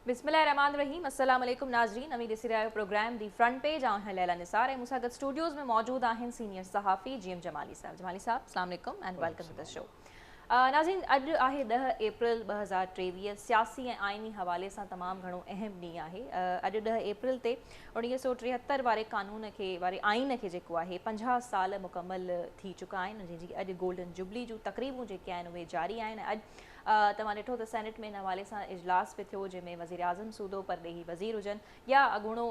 بسم الله الرحمن الرحيم السلام عليڪم ناظرين اوهين ڏسي رهيا آهيو پروگرام دي فرنٽ پيج آئون آهيان ليلا نثار ۽ مون سان گڏ اسٽوڊيوز ۾ موجود آهن سينيئر صحافي جي ايم جمالي صاحب جمالي صاحب السلام عليڪم and welcome to the show ناظرين اڄ آهي ڏهه اپريل ٻه هزار ٽيويهه سياسي ۽ آئيني حوالي سان تمام گهڻو اهم ڏينهن آهي اڄ ڏهه اپريل تي اڻويهه سو ٽيهتر واري قانون کي واري آئين کي جيڪو آهي پنجاهه سال مڪمل ٿي چڪا آهن جنهن جي اڄ گولڊن جوبلي جون تقريبون جيڪي آهن اهي جاري آهن اڄ توهان ڏٺو ته سينيٽ ۾ ان حوالي سان اجلاس به ٿيو جنهن ۾ وزيراعظم سوڌو پرڏيهي وزير هجن يا اڳوڻو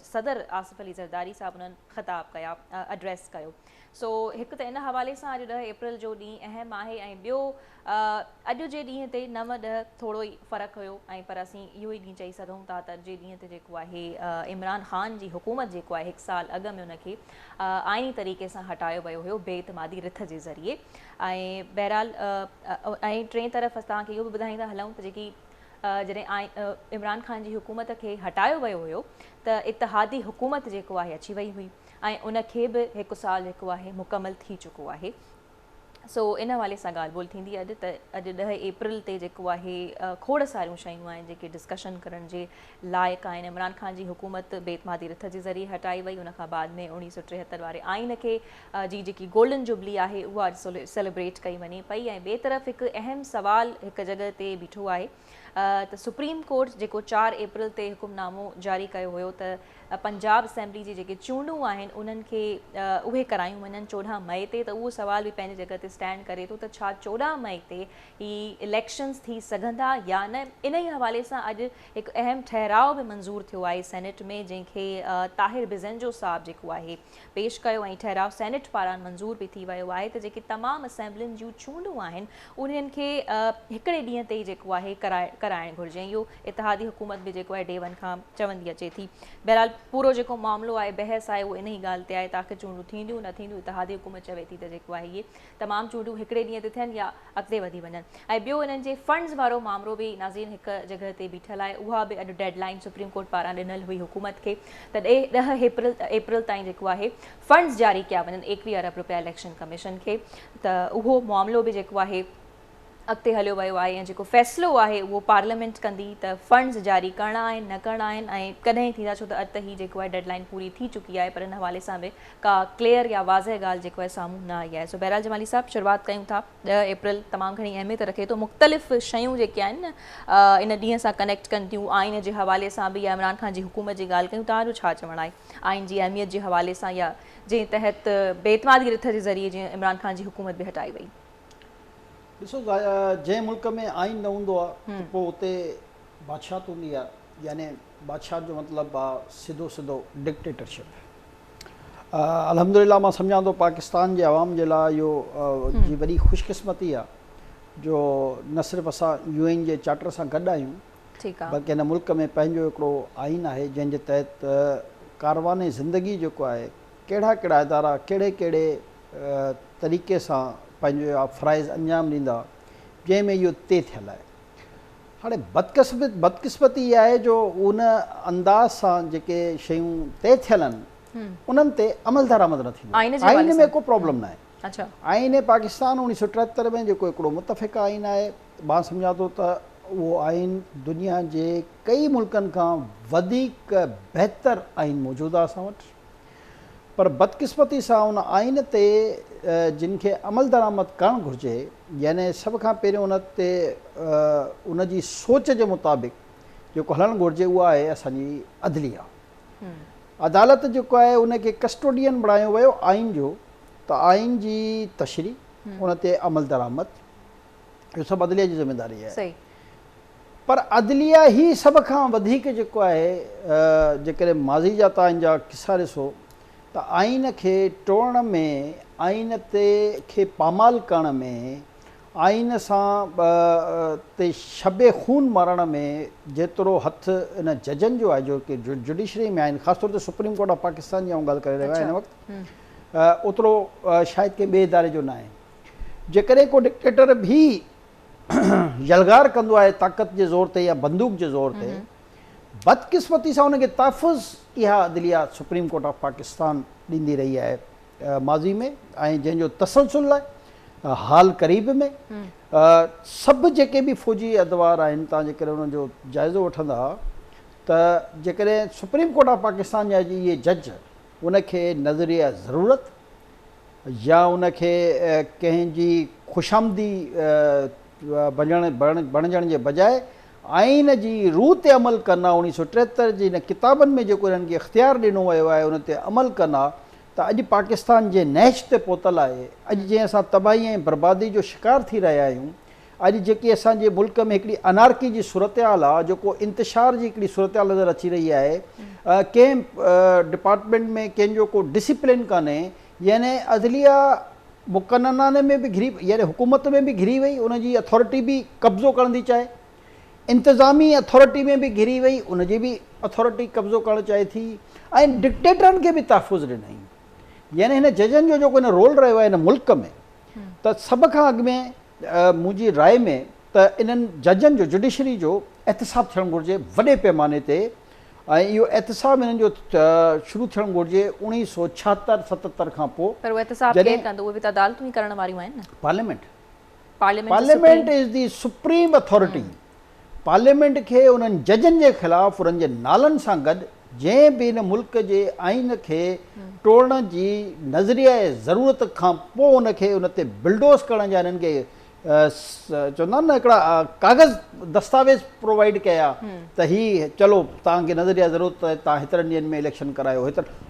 صدر آصف علي زرداري صاحب انهن خطاب ڪيا ايڊريس ڪيو سو هڪ ته ان حوالي سان اڄ ڏهه اپريل جو ڏينهن اهم آهي ۽ ٻيو اڄ جي ڏينهن تي نو ڏهه ٿورو ئي فرق هيو ۽ پر اسين اهو ئي ڏينهن چئي سگهون ٿا ته اڄ جي ڏينهن تي جيڪو آهي عمران خان جي حڪومت جيڪو آهي هڪ سال اڳ ۾ ان کي آئيني طريقي سان هٽايو ويو هيو بي اعتمادي رٿ جي ذريعي ۽ بهرحال ۽ ٽئين طرف اسان توهان کي اهو به ٻڌائيندا هلون ته جيڪي جڏهن عمران خان جي حڪومت کي هٽايو ويو هيو ته اتحادي حڪومت جيڪو آهي اچي وئي هئي ۽ ان کي به هڪ سال جيڪو آهي مڪمل ٿي چڪو آهي سو ان حوالي سان ڳالهه ٻولهه ٿيندي اڄ ته اڄ ڏهه اپريل تي جيڪو آهي کوڙ ساريون شيون آهن جيڪي ڊسڪشن ڪرڻ جي لائق آهن عمران خان جي حڪومت بي اعتمادي رٿ جي ذريعي هٽائي وئي ان کان بعد ۾ اوڻيهه سو ٽيهتر واري آئين کي جي جيڪي گولڊن جوبلي آهي اها اڄ سيليبريٽ ڪئي وڃي پئي ۽ ٻئي طرف هڪ اهم سوال هڪ جڳهه تي بيٺو آهي ته سپريم ڪورٽ جيڪو چار اپريل تي حڪم نامو جاري ڪيو هيو ته پنجاب اسيمبلي جي جيڪي چونڊون آهن انهن کي اهي ڪرايون وڃن چوڏهن مئي تي ته اهو سوال به پنهنجي جڳهه تي اسٽينڊ ڪري ٿو ته ڇا چوڏهن مئي تي هي اليڪشنز ٿي سگهندا يا نه انهي حوالي سان اڄ هڪ اهم ٺهراء به منظور ٿيو آهي سينيٽ ۾ جنهن کي طاهر بزنجو صاحب جيڪو آهي پيش ڪيو ۽ ٺهراء سينيٽ پاران منظور به ٿي ويو آهي ته جيڪي تمام اسيمبلين جون چونڊون آهن انهن کي هڪڙي ڏينهن تي ئي جيڪو آهي ڪرائڻ گهرجي ۽ اهو اتحادي حڪومت به جيڪو آهي ڊي ون کان چوندي اچي ٿي بهرحال پورو جيڪو معاملو آهي بحث آهي اهو انهي ڳالهه تي آهي ته آخر چونڊون ٿينديون نه ٿينديون اتحادي حڪومت چوي ٿي ته جيڪو آهي اهي تمام چونڊون هڪڙي ڏينهن تي ٿين يا اڳتي وڌي وڃن ۽ ٻيو انهن جي فنڊز وارو مامرو به ناظرين هڪ جڳهه تي بيٺل آهي اها به اڄ ڊيڊ لائين سپريم ڪورٽ پاران ڏنل هئي حڪومت کي ته ڏهه اپريل تائين جيڪو آهي فنڊز جاري ڪيا وڃن ايڪويهه ارب رپيا اليڪشن ڪميشن کي ته اهو معاملو به جيڪو آهي اڳتي هليو ويو آهي ۽ جيڪو فيصلو آهي اهو پارليامينٽ ڪندي ته فنڊز جاري ڪرڻا آهن نه ڪرڻا آهن ۽ ڪڏهن ٿيندا ڇو ته اڄ ته هي جيڪو آهي ڊيڊ لائين پوري ٿي چڪي آهي پر ان حوالي سان به ڪا ڪليئر يا واضح ڳالهه جيڪو آهي سامهون نه آئي آهي سو بهرحال جمالي صاحب شروعات ڪيون ٿا ڏهه اپريل تمام گهڻي اهميت رکي ٿو مختلف شيون جيڪي آهن ان ڏينهن سان ڪنيڪٽ ڪن ٿيون آئين جي حوالي سان به يا عمران خان جي حڪومت جي ڳالهه ڪيون تان جو ڇا چوڻ آهي آئين جي اهميت جي حوالي سان يا جنهن تحت بي اعتمادي رٿ جي ذريعي جيئن عمران خان جي حڪومت به هٽائي وئي ڏسو ضايا جنهن ملڪ ۾ آئين نه هوندو آ ته پوء اتي بادشاهت هوندي آ يعني بادشاهت جو مطلب آ سڌو سڌو ڊڪٽيٽرشپ الحمدلله مان سمجهان ٿو پاڪستان جي عوام جي لاء اهو جي وڏي خوش قسمتي آ جو نه صرف اسان يو اين جي چارٽر سان گڏ آهيون بلڪه هن ملڪ ۾ پنهنجو هڪڙو آئين آهي جنهن جي تحت ڪاروان زندگي جيڪو آهي ڪهڙا ڪهڙا ادارا ڪهڙي ڪهڙي طريقي سان پنهنجو اها فرائض انجام ڏيندا جنهن ۾ اهو طئي ٿيل آهي. هاڻي بدقسمتي اها آهي جو ان انداز سان جيڪي شيون طئي ٿيل آهن انهن تي عملدرآمد نه ٿيندو آهي. آئين ۾ ڪو پرابلم نه آهي. آئين پاڪستان اڻويهه سؤ ٽيهتر ۾ جيڪو هڪڙو متفقه آئين آهي مان سمجهان ٿو ته اهو آئين دنيا جي ڪئي ملڪن کان وڌيڪ بهتر آئين موجود آهي اسان وٽ. پر بدقسمتي سان ان آئين تي جن کي عملدرآمد ڪرڻ گهرجي يعني سڀ کان پهريون ان تي ان جي سوچ جي مطابق جيڪو هلڻ گهرجي اها آهي اسان جي عدليه عدالت جيڪو آهي ان کي ڪسٽوڊين بڻايو ويو آئين جو ته آئين جي تشريح ان تي عملدرآمد اهو سڀ عدليه جي ذميواري آهي. صحيح. پر عدليه هي سڀ کان وڌيڪ جيڪو آهي جيڪڏهن ماضي جا توهان جا قصا ڏسو ته آئين کي ٽوڙڻ ۾ آئين تي کي پامال ڪرڻ ۾ آئين سان تي شب خون مارڻ ۾ جيترو هٿ ان ججن جو آهي جو ڪي جوڊيشري ۾ آهن خاص طور تي سپريم ڪورٽ آف پاڪستان جي آئون ڳالهه ڪري رهيو آهيان هن وقت اوترو شايد ڪنهن ٻئي اداري جو ناهي. جيڪڏهن ڪو ڊڪٽيٽر به يلغار ڪندو آهي طاقت جي زور تي يا بندوق جي زور تي، بدقسمتي سان ان کي تحفظ اها عدليه سپريم ڪورٽ آف پاڪستان ڏيندي رهي آهي ماضي ۾ ۽ جنهن جو تسلسل آهي حال قريب ۾ سڀ جيڪي به فوجي ادوار آهن توهان جيڪڏهن انهن جو جائزو وٺندا ته جيڪڏهن سپريم ڪورٽ آف پاڪستان جا اهي جج ان کي نظريه ضرورت يا ان کي ڪنهن جي خوشامدي بڻجڻ جي بجاء آئين جي روح تي عمل ڪن ها، اوڻيهه سؤ ٽيهتر جي انهن ڪتابن ۾ جيڪو انهن کي اختيار ڏنو ويو آهي ان تي عمل ڪن ها ته اڄ پاڪستان جنهن نهج تي پهتل آهي، اڄ جنهن اسان تباهي ۽ بربادي جو شڪار ٿي رهيا آهيون، اڄ جيڪي اسان جي ملڪ ۾ هڪڙي انارڪي جي صورتحال آ جيڪو انتشار جي هڪڙي صورتحال نظر اچي رهي آهي ڪنهن ڊپارٽمينٽ ۾ ڪنهن جو ڪو ڊسيپلين ڪانهي يعني عدليه مقننانه ۾ به گهري يعني حڪومت ۾ به گهري وئي ان جي اٿارٽي به قبضو ڪرڻ ٿي چاهي انتظامي اٿارٽي ۾ به گهري وئي ان جي به اٿارٽي قبضو ڪرڻ چاهي ٿي ۽ ڊڪٽيٽرن کي به تحفظ ڏنائين يعني هن ججن جو جيڪو هن رول رهيو آهي هن ملڪ ۾ ته سڀ کان اڳ ۾ منهنجي راء ۾ ته انهن ججن جو جڊيشري جو احتساب ٿيڻ گهرجي وڏي پيماني تي ۽ اهو احتساب انهن جو شروع ٿيڻ گهرجي اوڻيهه سؤ ڇاهتر ستتر کان پوء پر اهو احتساب ڪير ڪندو اهي به ته عدالتون ئي ڪرڻ واريون آهن نه. Parliament parliament is the supreme authority parliament کي انهن ججن جي خلاف انهن جي نالن سان گڏ جنهن به هن ملڪ جي آئين کي ٽوڙڻ جي نظريه ۽ ضرورت کان پوء ان کي ان تي بلڊوز ڪرڻ جا انهن کي چوندا آهن نه هڪڙا ڪاغذ دستاويز پرووائيڊ ڪيا ته هي چلو توهان کي نظريه ضرورت آهي توهان هيترن ڏينهن ۾ اليڪشن ڪرايو هيترن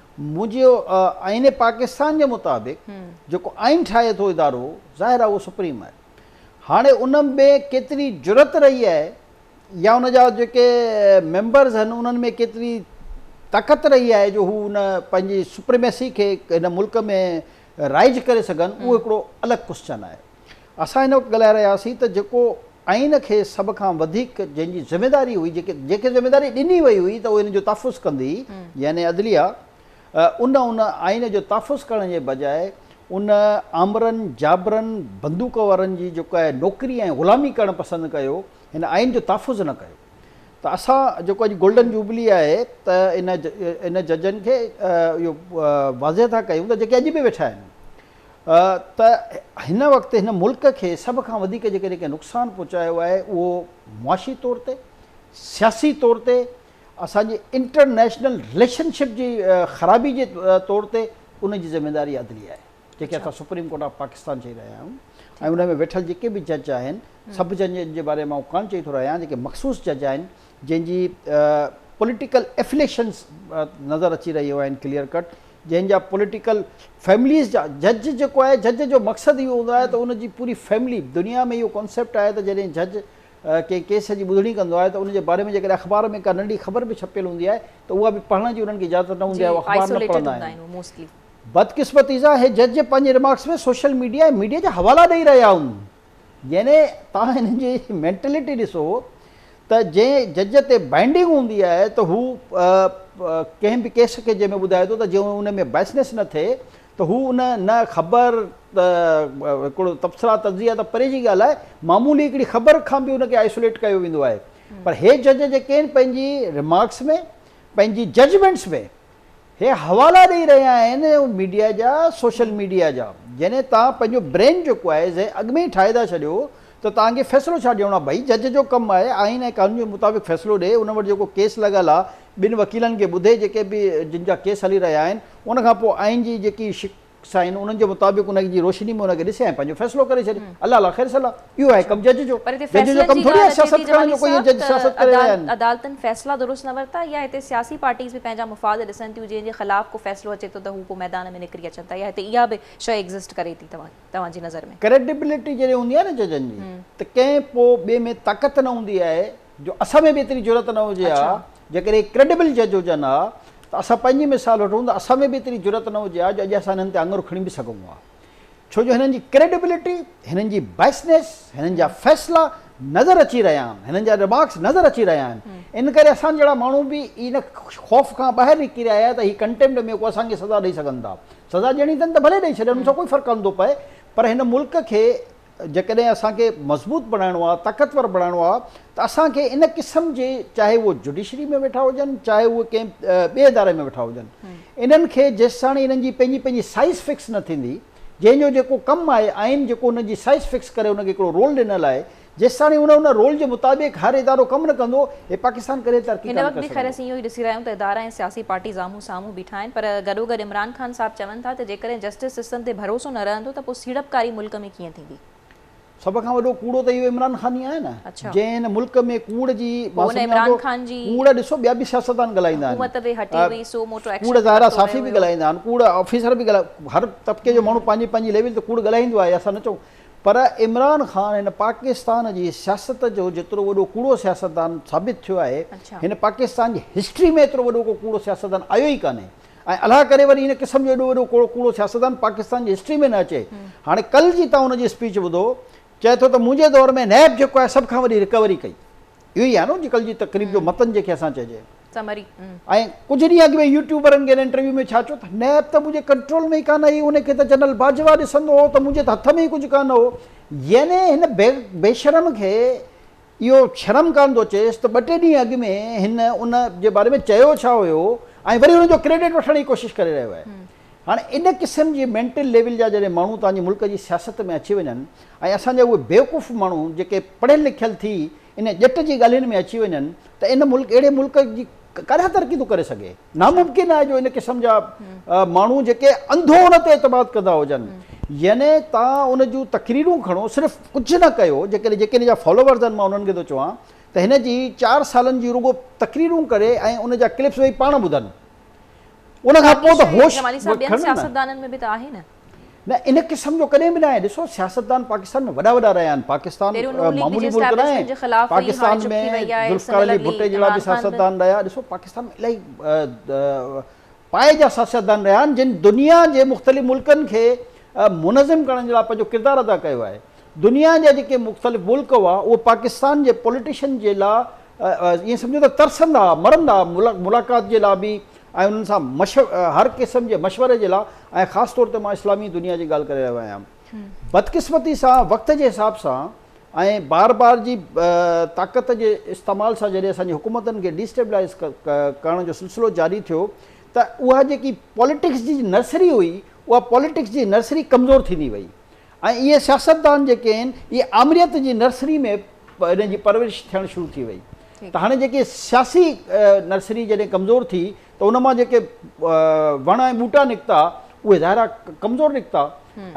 منهنجي آئين پاڪستان جي مطابق جيڪو آئين ٺاهي ٿو ادارو ظاهر آهي اهو سپريم آهي هاڻي ان ۾ ڪيتري جرئت رهي آهي يا ان جا جيڪي ميمبرز آهن انهن ۾ ڪيتري طاقت رهي آهي جو هو ان پنهنجي سپريميسي کي هن ملڪ ۾ رائج ڪري سگهن اهو هڪڙو الڳ ڪوسچن آهي اسان هن وقت ڳالهائي رهيا هئاسين ته جيڪو آئين کي سڀ کان وڌيڪ جنهن جي ذميواري هئي، جيڪي جيڪي ذميواري ڏني وئي هئي ته اهو هن جو تحفظ ڪندي يعني عدليه ان ان آئين جو تحفظ ڪرڻ جي بجاء ان آمرن جابرن بندوق وارن جي جيڪا نوڪري ۽ غلامي ڪرڻ پسند ڪيو هن آئين جو تحفظ نه ڪيو ته اسان جيڪو اڄ گولڊن جوبلي آهي ته ان ان ججن کي اهو واضح ٿا ڪيون ته جيڪي اڄ به ويٺا آهن ته هن وقت هن ملڪ کي سڀ کان وڌيڪ جيڪڏهن ڪنهن نقصان پهچايو آهي اهو معاشي طور تي، سياسي طور تي، اسان جي انٽرنيشنل رليشن شپ جي خرابي جي طور تي ان جي ذميواري عدليه آهي جيڪي اسان سپريم ڪورٽ آف پاڪستان چئي رهيا آهيون ۽ ان ۾ ويٺل جيڪي به جج آهن سڀ ججن جي باري مان آئون ڪانه چئي ٿو رهيان جيڪي مخصوص جج آهن جنهن جي پوليٽيڪل افليشنس نظر اچي رهيو آهن ڪليئر ڪٽ جنهن جا پوليٽيڪل فيمليز جا جج جيڪو آهي جج جو مقصد اهو هوندو آهي ته ان جي پوري فيملي دنيا ۾ اهو ڪانسيپٽ آهي ته جڏهن جج ڪنهن ڪيس جي ٻڌڻي ڪندو آهي ته ان جي باري ۾ جيڪڏهن اخبار ۾ ڪا ننڍي خبر به ڇپيل هوندي آهي ته اها به پڙهڻ جي انهن کي اجازت نه هوندي آهي اهو اخبار نه پڙهندا آهن بدقسمتي سان اهي جج پنهنجي ريمارڪس ۾ سوشل ميڊيا ۽ ميڊيا جا حوالا ڏئي رهيا هوندا يعني توهان هنن جي مينٽلٽي ڏسو ته جنهن جج تي بائنڊنگ هوندي آهي ته هو ڪنهن به ڪيس کي جنهن ۾ ٻڌائي ٿو ته جي ان ۾ بائسنس نه ٿئي ته هو ان نه خبر هڪڙو تبصرا تجزيا ته پري جي ڳالهه آهي معمولي هڪڙي خبر کان به ان کي آئسوليٽ ڪيو ويندو آهي پر هي جج جيڪي آهن پنهنجي ريمارڪس ۾ پنهنجي ججمينٽس ۾ هي حوالا ڏئي رهيا آهن ميڊيا جا سوشل ميڊيا جا يعني توهان پنهنجو برين جيڪو آهي زي اڳ ۾ ئي ٺاهي ٿا ڇڏيو ته توهان کي فيصلو ڇا ڏيڻو آهي ڀئي جج جو ڪم آهي آئين ۽ قانون جي مطابق فيصلو ڏي ان وٽ جيڪو ڪيس لڳل آهي ٻن وڪيلن کي ٻڌي جيڪي به جن جا ڪيس هلي رهيا آهن ان کان پوء آئين جي جيڪي سائين انهن جي مطابق انهن جي روشني ۾ انهن کي ڏسي ۽ پنهنجو فيصلو ڪري ڇڏي الله لا خير صلاح اهو آهي ڪم جج جو پر هتي جج جو فيصلن ڪم جي ٿوري آهي ڳالهه اچي سياست ٿي ڪرڻ جمالي جو ڪوئي صاحب جج سياست ته ڪري رهيا عدالت آهن عدالتن فيصلا درست نه ورتا يا هتي سياسي پارٽيز به پنهنجا مفاد ڏسن ٿيون جنهن جي خلاف ڪو فيصلو اچي ٿو ته هو پوء ميدان ۾ نڪري اچن ٿا يا هتي اها به شئي ايگزسٽ ڪري ٿي توهان توهان جي نظر ۾ ڪريڊيبلٽي جڏهن هوندي آهي نه ججن جي ته ڪنهن پوء ٻئي ۾ طاقت نه هوندي آهي جو اسان ۾ به ايتري جرئت نه هجي ها، جيڪڏهن ڪريڊبل جج هجن ها ته اسان پنهنجي مثال وٺون ته اسان ۾ به ايتري جرئت نه هجي ها جو اڄ اسان هنن تي آڱر کڻي به سگهون ها. ڇو جو هنن جي ڪريڊبلٽي، هنن جي بائسنيس، هنن جا فيصلا نظر اچي رهيا آهن، هنن جا رمارڪس نظر اچي رهيا آهن. ان ڪري اسان جهڙا ماڻهو به ان خوف کان ٻاهر نڪري آيا آهيا ته هي ڪنٽيمپٽ ۾ ڪو اسان کي سزا ڏئي سگهن ٿا. سزا ڏيڻي اٿن ته ڀلي ڏئي ڇڏين ان سان ڪوئي فرق ڪونه ٿو پئي پر هن ملڪ کي جيڪڏهن اسان کي مضبوط بڻائڻو آهي، طاقتور بڻائڻو آهي ته اسان کي ان قسم جي چاهي اهي جڊيشري ۾ ويٺا هجن چاهي اهي ڪنهن ٻئي اداري ۾ ويٺا هجن انهن کي جيستاڻي انهن جي پنهنجي پنهنجي سائيز فڪس نه ٿيندي جنهن جو جيڪو ڪم آهي آئين جيڪو ان جي سائيز فڪس ڪري ان کي هڪڙو رول ڏنل آهي جيستاڻي ان ان رول جي مطابق هر ادارو ڪم نه ڪندو اهي پاڪستان ڪڏهن ترقي ڪانه ڪري سگهندو. سامهون بيٺا آهن پر گڏوگڏ عمران خان صاحب چون ٿا ته جيڪڏهن جسٽس سسٽم تي ڀروسو نه رهندو ته پوء سيڙپڪاري ملڪ ۾ ڪيئن ٿيندي. سڀ کان وڏو ڪوڙو ته اهو عمران خان ئي آهي نه جنهن هن ملڪ ۾ ڪوڙ جي مان سمجهان ٿو ڪوڙ ڏسو ٻيا به سياستدان ڳالهائيندا آهن ڪوڙ ظاهرا صحافي به ڳالهائيندا آهن ڪوڙ آفيسر به ڳالهائيندا آهن هر طبقي جو ماڻهو پنهنجي پنهنجي ليول تي ڪوڙ ڳالهائيندو آهي اسان نه چئون پر عمران خان هن پاڪستان جي سياست جو جيترو وڏو ڪوڙو سياستدان ثابت ٿيو آهي، هن پاڪستان جي هسٽري ۾ ايترو وڏو ڪو ڪوڙو سياستدان آيو ئي ڪانهي ۽ الله ڪري وري هن قسم جو ايڏو وڏو ڪو ڪوڙو سياستدان پاڪستان جي هسٽري ۾ نه اچي. هاڻي ڪل جي توهان هن جي اسپيچ ٻڌو، چئي ٿو ته منهنجي دور ۾ نيب جيڪو آهي سڀ کان وڏي رڪوري ڪئي. اهو ئي آهي نه اڄڪلهه جي تقريب جو متن جنهن کي اسان چئجي. سمري. ۽ ڪجهه ڏينهن اڳ ۾ يوٽيوبرن کي هن انٽرويو ۾ ڇا چيو ته نيب ته منهنجي ڪنٽرول ۾ ئي ڪانه هئي ان کي ته جنرل باجوا ڏسندو هو ته منهنجي ته هٿ ۾ ئي ڪجهه ڪانه هو يعني هن بيشرم کي اهو شرم ڪانه ٿو اچيس ته ٻه ٽي ڏينهن اڳ ۾ هن ان جي باري ۾ چيو ڇا هيو ۽ وري ان جو ڪريڊٽ وٺڻ جي ڪوشش ڪري رهيو آهي هاڻ ان قسم جي مينٽل ليول جا جڏهن ماڻهو توهان جي ملڪ جي سياست ۾ اچي وڃن ۽ اسان جا اهي بيوقوف ماڻهو جيڪي پڙهيل لکيل ٿي ان ڄٽ جي ڳالهين ۾ اچي وڃن ته ان ملڪ اهڙي ملڪ جي ڪڏهن ترقي ٿو ڪري سگهي؟ ناممڪن آهي جو ان قسم جا ماڻهو جيڪي انڌو ان تي اعتماد ڪندا هجن يعني توهان ان جون تقريرون کڻو صرف ڪجهه نه ڪيو جيڪڏهن جيڪي ان جا فالوورز آهن مان انهن کي ٿو چوان ته هن جي چار سالن جون رڳو تقريرون ڪري ۽ ان جا ڪلپس ويهي پاڻ ٻڌن. ان کان پوء ته هوش جمالي صاحب ٻين سياستدانن ۾ به ته آهي نه. نه ان قسم جو ڪڏهن به ناهي ڏسو سياستدان پاڪستان ۾ وڏا وڏا رهيا آهن پاڪستان معمولي ملڪ ناهي پاڪستان ۾ ذوالفقار علي ڀٽي جهڙا به سياستدان رهيا ڏسو پاڪستان ۾ الائي پائي جا سياستدان رهيا آهن جن دنيا جي مختلف ملڪن کي منظم ڪرڻ جي لاء پنهنجو ڪردار ادا ڪيو آهي دنيا جا جيڪي مختلف ملڪ هئا اهو پاڪستان جي پوليٽيشن جي لاء ائين سمجهو ته ترسندا، مرندا، ملاقات جي لاء به ۽ انهن سان هر قسم جي مشوري جي لاء ۽ خاص طور تي مان اسلامي دنيا جي ڳالهه ڪري رهيو آهيان. بدقسمتي سان وقت جي حساب سان ۽ بار بار جي طاقت جي استعمال سان جڏهن اسان جي حڪومتن کي ڊيسٽيبلائيز ڪرڻ جو سلسلو جاري ٿيو ته اها جيڪي پاليٽڪس جي نرسري هئي اها پاليٽڪس جي نرسري ڪمزور ٿيندي وئي. ۽ اهي سياستدان جيڪي آهن اهي آمريت جي نرسري ۾ هن جي پرورش ٿيڻ شروع ٿي وئي ته هاڻي جيڪي سياسي نرسري جڏهن ڪمزور ٿي ته ان مان جيڪي وڻ ۽ ٻوٽا نڪتا اهي ظاهرا ڪمزور نڪتا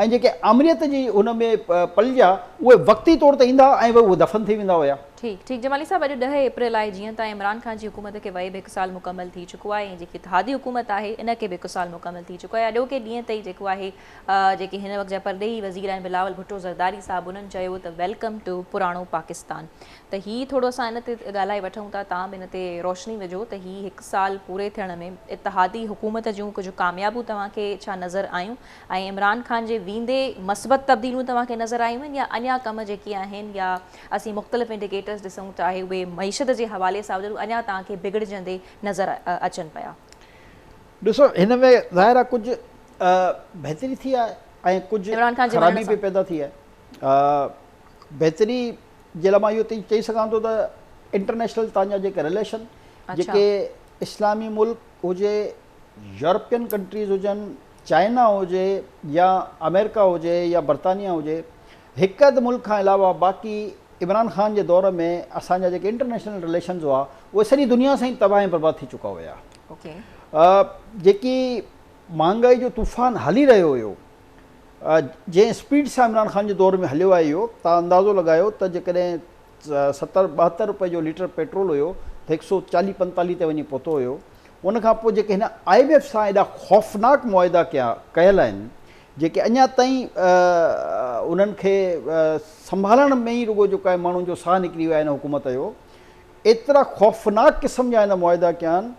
۽ جيڪي آمريت جي هن ۾ پلجيا اهي وقتي طور تي ايندا ۽ اهي دفن ٿي ويندا هيا. ٺيڪ ٺيڪ جمالي صاحب اڄ ڏهه اپريل آهي جيئن ته عمران خان جي حڪومت کي وئي به هڪ سال مڪمل ٿي چڪو آهي ۽ جيڪي اتحادي حڪومت آهي ان کي به هڪ سال مڪمل ٿي چڪو آهي اڄوڪي ڏينهن تائين جيڪو آهي جيڪي هن وقت جا پرڏيهي وزير آهن بلاول ڀٽو زرداري صاحب انهن چيو ته ويلڪم ٽو پراڻو پاڪستان ته هي ٿورو اسان ان تي ڳالهائي وٺون ٿا توهان به ان تي روشني وجهو ته هي هڪ سال پوري ٿيڻ ۾ اتحادي حڪومت جون ڪجهه ڪاميابون توهان کي ڇا نظر آيون ۽ عمران خان جي ويندي مثبت تبديليون توهان کي نظر آيون آهن يا اڃا ڪم جيڪي آهن يا اسين مختلف انڊيڪيٽرز ڏسون ته آهي اهي معيشت جي حوالي سان هجن اڃا توهان کي بگڙجندي نظر اچن پيا. ڏسو هن ۾ ظاهر آهي ڪجهه آء بهتري ٿي آهي ۽ ڪجهه عمران خان جي ونڃڻ خرابي به سان. پيدا ٿي آهي. آء بهتري جي لاء مان اهو تائين چئي سگهان ٿو ته انٽرنيشنل تان جا جيڪي رليشن اڇا. جيڪي اسلامي ملڪ هجي، يورپين ڪنٽريز هجن، چائنا هجي يا آمريڪا هجي يا برطانيا هجي، هڪ اڌ ملڪ کان علاوه باقي عمران خان جي دور ۾ اسان جا جيڪي انٽرنيشنل رليشنز هئا اهي سڄي دنيا سان ئي تباهه ۽ برباد ٿي چڪا هيا. اوڪي. آء جيڪي مھانگائي جو طوفان ھلي رھيو ھيو جنھن اسپيڊ سان عمران خان جي دور ۾ ھليو آيو ھيو تان اندازو لڳايو ته جيڪڏھن ستر ٻاھتر رپئي جو ليٽر پيٽرول ھيو ته ھڪ سئو چاليھ پنتاليھ تي وڃي پھتو ھيو ان کان پوء جيڪي ھن آء ايم ايف سان ايڏا خوفناڪ معاھدا ڪيا ڪيل آھن جيڪي اڃا تائين انھن کي سنڀالڻ ۾ ئي رڳو جيڪو آھي ماڻھن جو ساھ نڪري ويو آھي ھن حڪومت جو ايترا خوفناڪ قسم جا هن معاهدا ڪيا آهن،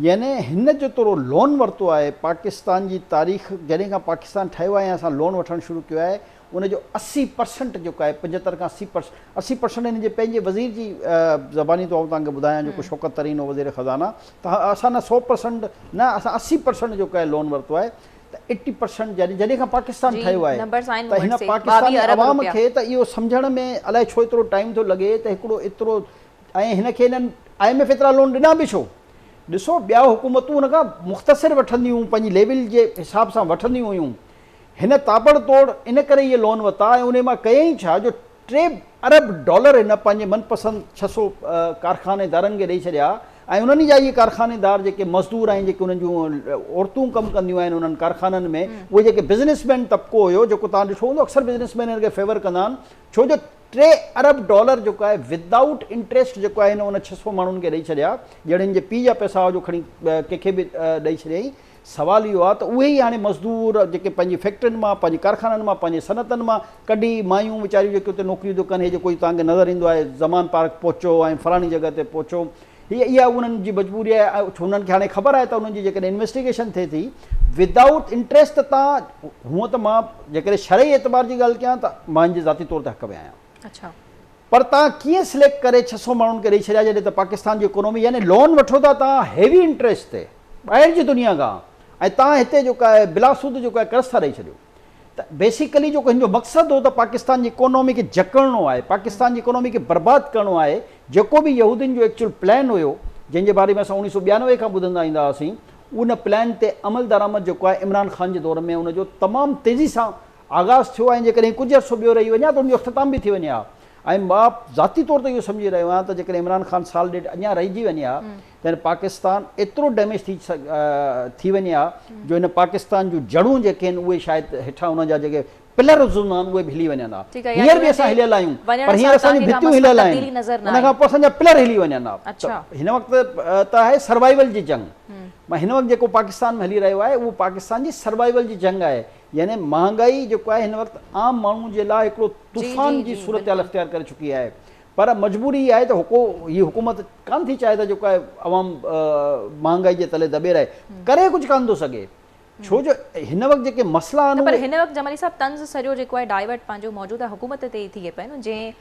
يعني هن جيترو لون ورتو آهي، پاڪستان جي تاريخ جڏهن کان پاڪستان ٺهيو آهي يا اسان لون وٺڻ شروع ڪيو آهي، ان جو اسي پرسنٽ جيڪو آهي پنجهتر کان اسي پرسنٽ اسي پرسنٽ هن جي پنهنجي وزير جي زباني ٿو آئون توهان کي ٻڌايان جيڪو شوڪت ترين هو وزير خزانه ته اسان نه سو پرسنٽ نه اسان اسي پرسنٽ جيڪو آهي لون ورتو آهي، ته ايٽي پرسنٽ يعني جڏهن کان پاڪستان ٺهيو آهي ته هن پاڪستاني عوام کي ته اهو سمجهڻ ۾ الائي ڇو ايترو ٽائيم ٿو لڳي ته هڪڙو ايترو ۽ هن کي هنن آء ايم ايف ايترا لون ڏنا به ڇو؟ ڏسو ٻيا حڪومتون هن کان مختصر وٺنديون هيون پنهنجي ليول جي حساب سان وٺنديون هيون هن تابڙ توڙ ان ڪري اهي لون وتا ۽ انهي مان ڪيائين ڇا جو ٽي ارب ڊالر هن پنهنجي من پسند ڇهه سؤ ڪارخانيدارن کي ڏئي ڇڏيا ۽ انهن ئي جا اهي ڪارخانيدار جيڪي مزدور ۽ جيڪي انهن جون عورتون ڪم ڪنديون آهن انهن ڪارخانن ۾ اهي جيڪي بزنس مين طبقو هيو جيڪو توهان ڏٺو هوندو اڪثر بزنس مين هن کي فيور ڪندا آهن ڇو جو ٽي ارب ڊالر جيڪو آهي ود آئوٽ انٽريسٽ جيڪو آهي هن ان ڇهه سؤ ماڻهن کي ڏئي ڇڏيا ڄڻ هن جي پيء جا پئسا هئا جو کڻي ڪنهن کي به ڏئي ڇڏيائين سوال اهو آهي ته اهي ئي هاڻي مزدور جيڪي پنهنجي فيڪٽرين مان، پنهنجي ڪارخانن مان، پنهنجي صنعتن مان ڪڍي مايون ويچاريون جيڪي اتي نوڪريون ٿيون ڪن هي جيڪو هي توهانکي نظر ايندو آهي زمان پارڪ پهچو ۽ فلاڻي جڳهه تي پهچو هي اها انهن جي مجبوري آهي ۽ انهن کي هاڻي خبر آهي ته انهن جي جيڪڏهن انويسٽيگيشن ٿئي ٿي ودائوٽ انٽريسٽ ته تان هونئن ته مان جيڪڏهن شرعي اعتبار جي ڳالهه ڪيان ته مان هن جي ذاتي طور تي حق ۾ آهيان اڇا. پر توهان ڪيئن سليڪٽ ڪري ڇهه سؤ ماڻهن کي ڏئي ڇڏيا جڏهن ته پاڪستان جي اڪونامي يعني لون وٺو ٿا توهان هيوي انٽريسٽ تي ٻاهر جي دنيا کان ۽ توهان هتي جيڪو آهي بلا سود جيڪو آهي قرض ٿا ڏئي ڇڏيو ته بيسيڪلي جيڪو هن جو مقصد هو ته پاڪستان جي اڪونامي کي جڪڙڻو آهي پاڪستان جي اڪونامي کي برباد ڪرڻو آهي جيڪو به يهودين جو ايڪچوئل پلان هيو جنهن جي باري ۾ اسان اوڻيهه سؤ ٻيانوي کان ٻڌندا ايندا هئاسين ان پلان تي عملدرآمد جيڪو آهي عمران خان جي دور ۾ ان جو تمام تيزي سان آغاز ٿيو آهي ۽ جيڪڏهن ڪجهه عرصو ٻيو رهي وڃي ها ته ان جو اختتام به ٿي وڃي ها ۽ مان ذاتي طور تي اهو سمجهي رهيو آهيان ته جيڪڏهن عمران خان سال ڏيڍ اڃا رهجي وڃي ها ته هن پاڪستان ايترو ڊيميج ٿي ٿي وڃي ها جو هن پاڪستان جون جڙون جيڪي آهن اهي شايد هيٺان ان جا جيڪي پلرز هوندا آهن اهي به هلي وڃن ها هينئر به اسان هليل آهيون پر هينئر اسان جون ڀتيون هليل آهن ان کان پوء اسان جا پلر هلي وڃن ها ته هن وقت ته آهي سروائيول جي جنگ مان هن وقت جيڪو پاڪستان ۾ هلي رهيو آهي اهو پاڪستان جي سروائيول جي جنگ آهي يعني مهانگائي جيڪو آهي هن وقت عام ماڻهو جي لاء هڪڙو طوفان جي صورتحال اختيار ڪري چڪي آهي پر مجبوري اها آهي ته هڪو هي حڪومت ڪانه ٿي چاهي ته جيڪو آهي عوام مهانگائي جي تلي دٻي رهي ڪري ڪجهه ڪانه ٿو سگهي ڇو جو هن وقت جيڪي مسئلا آهن پر هن وقت جمالي صاحب طنز سڄو جيڪو آهي ڊائيورٽ پنهنجو موجوده حڪومت تي ٿي پئي جنهن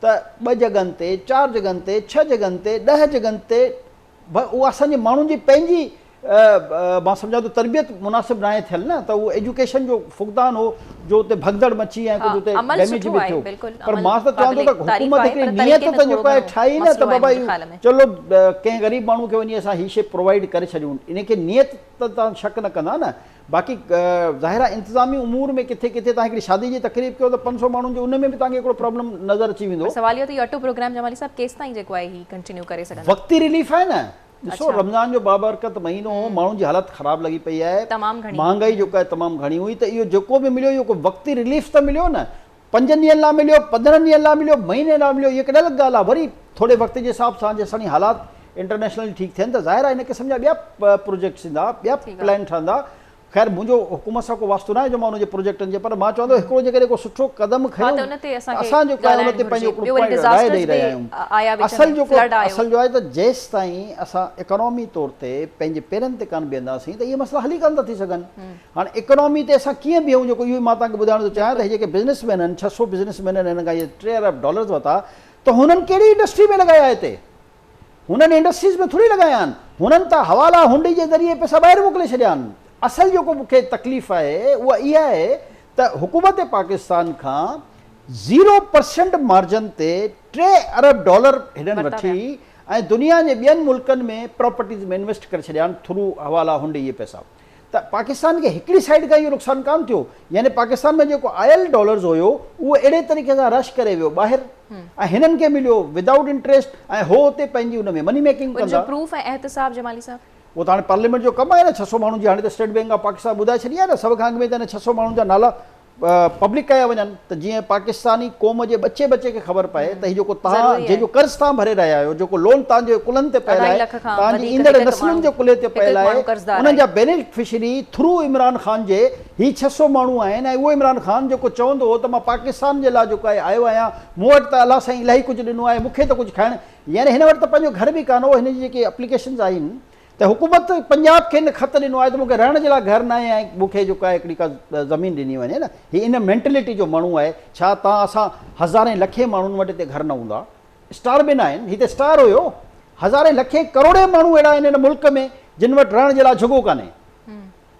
ته ٻه جڳهن تي، چار جڳهن تي، ڇهه جڳهن تي، ڏهه جڳهن تي به اهو اسان جي ماڻهن جي پنهنجي مان سمجهان ٿو تربيت مناسب ناهي ٿيل نه ته اهو ايجوڪيشن جو فقدان هو جو اتي ڀڳدڙ مچي ۽ ڪجهه اتي ڊيميج به ٿيو پر مان ته چوان ٿو ته حڪومت هڪڙي نيت ته جيڪو آهي ٺاهي نه ته بابا چلو ڪنهن غريب ماڻهو کي وڃي اسان هي شي پرووائيڊ ڪري ڇڏيون ان کي نيت ته تان شڪ نه ڪندا نه باقي ظاهر آهي انتظامي امور ۾ ڪٿي ڪٿي توهان هڪڙي شادي جي تقريب ڪيو ته پنج سؤ ماڻهن جي ان ۾ به توهان کي هڪڙو پرابلم نظر اچي ويندو. پر سوال اهو ته اهو اٽو پروگرام جمالي صاحب ڪيستائين جيڪو آهي هي ڪنٽينيو ڪري سگهندا. وقتي رليف آهي نه ڏسو رمضان جو بابرڪت مهينو هو ماڻهن جي حالت خراب لڳي پئي آهي مهانگائي جيڪا تمام گهڻي هئي ته اهو جيڪو به مليو اهو ڪو وقتي رليف ته مليو نه پنجن ڏينهن لا مليو، پندرهن ڏينهن لا مليو، مهيني لا مليو، اهي ڪهڙي الڳ ڳالهه آهي، وري ٿوري وقت جي حساب سان جيسين تائين حالات انٽرنيشنل ٺيڪ ٿين ته ظاهر آهي هن قسم جا ٻيا پروجيڪٽس ايندا، ٻيا پلان ٺهندا، خير منهنجو حڪومت سان ڪو واسطو ناهي جو مان انهن جي پروجيڪٽن جي پر مان چوان ٿو هڪڙو جيڪڏهن ڪو سٺو قدم کيون ته اسان جيڪو آهي ان تي پنهنجو هڪڙو پوائنٽ راء ڏئي رهيا آهيون، اصل جيڪو اصل جو آهي ته جيستائين اسان اڪانومي طور تي پنهنجي پيرن تي ڪانه بيهنداسين ته اهي مسئلا حل ئي ڪانه ٿا ٿي سگهن، هاڻ اڪانومي تي اسان ڪيئن بيهون جيڪو اهو ئي مان توهان کي ٻڌائڻ ٿو چاهيان ته هي جيڪي بزنس مين آهن ڇهه سؤ بزنس مين آهن هنن کان اهي ٽي ارب ڊالرز ورتا ته هنن ڪهڙي انڊسٽري ۾ لڳايا هتي هنن انڊسٽريز ۾ ٿوري لڳايا آهن هنن ته حوالا هنڊي جي ذريعي پئسا ٻاهر موڪلي ڇڏيا آهن اصل جيڪو مون کي تڪليف آهي اها اها آهي ته حڪومت پاڪستان کان زيرو پرسنٽ مارجن تي ٽي ارب ڊالر هنن وٺي ۽ دنيا جي ٻين ملڪن ۾ پراپرٽيز ۾ انويسٽ ڪري ڇڏيا آهن ٿرو حوالا هنڊي اهي پئسا ته پاڪستان کي هڪڙي سائيڊ کان اهو نقصان ڪانه ٿيو يعني پاڪستان ۾ جيڪو آيل ڊالرز هيو اهو اهڙي طريقي سان رش ڪري ويو ٻاهر ۽ هنن کي مليو ودائوٽ انٽريسٽ ۽ هو اتي پنهنجي ان ۾ مني ميڪنگ ڪندا. ان جو پروف ۽ احتساب جمالي صاحب. اهو ته هاڻي پارليامينٽ جو ڪم آهي نه ڇهه سؤ ماڻهن جي هاڻي ته اسٽيٽ بينڪ آف پاڪستان ٻڌائي ڇڏي آهي نه سڀ کان اڳ ۾ ته هن ڇهه سؤ ماڻهن جا نالا پبلڪ ڪيا وڃن ته جيئن پاڪستاني قوم جي ٻچي ٻچي کي خبر پئي ته هي جيڪو تان جنهن جو قرض تان ڀري رهيا آهيو جيڪو لون تان جي ڪلهن تي پيل آهي تان جي ايندڙ نسلن جي ڪلهي تي پيل آهي انهن جا بينيفشري ٿرو عمران خان جي هي ڇهه سؤ ماڻهو آهن ۽ اهو عمران خان جيڪو چوندو هو ته مان پاڪستان جي لا جيڪو آهي آيو آهيان مون وٽ ته الله سائين الاهي ڪجهه ڏنو آهي مون کي ته ڪجهه کائڻ يعني هن وٽ ته پنهنجو گهر به ڪانه هو هن جي جيڪي اپليڪيشنز آهن ته حڪومت پنجاب کي ان خط ڏنو آهي ته مون کي رهڻ جي لاء گهر ناهي ۽ مون کي جيڪو آهي هڪڙي ڪا زمين ڏني وڃي نه هي ان مينٽلٽي جو ماڻهو آهي ڇا تان اسان هزارين لکين ماڻهن وٽ هتي گهر نه هوندا اسٽار به ناهن هي ته اسٽار هيو هزارين لکين ڪروڙين ماڻهو اهڙا آهن ان ملڪ ۾ جن وٽ رهڻ جي لاء جھڳو ڪانهي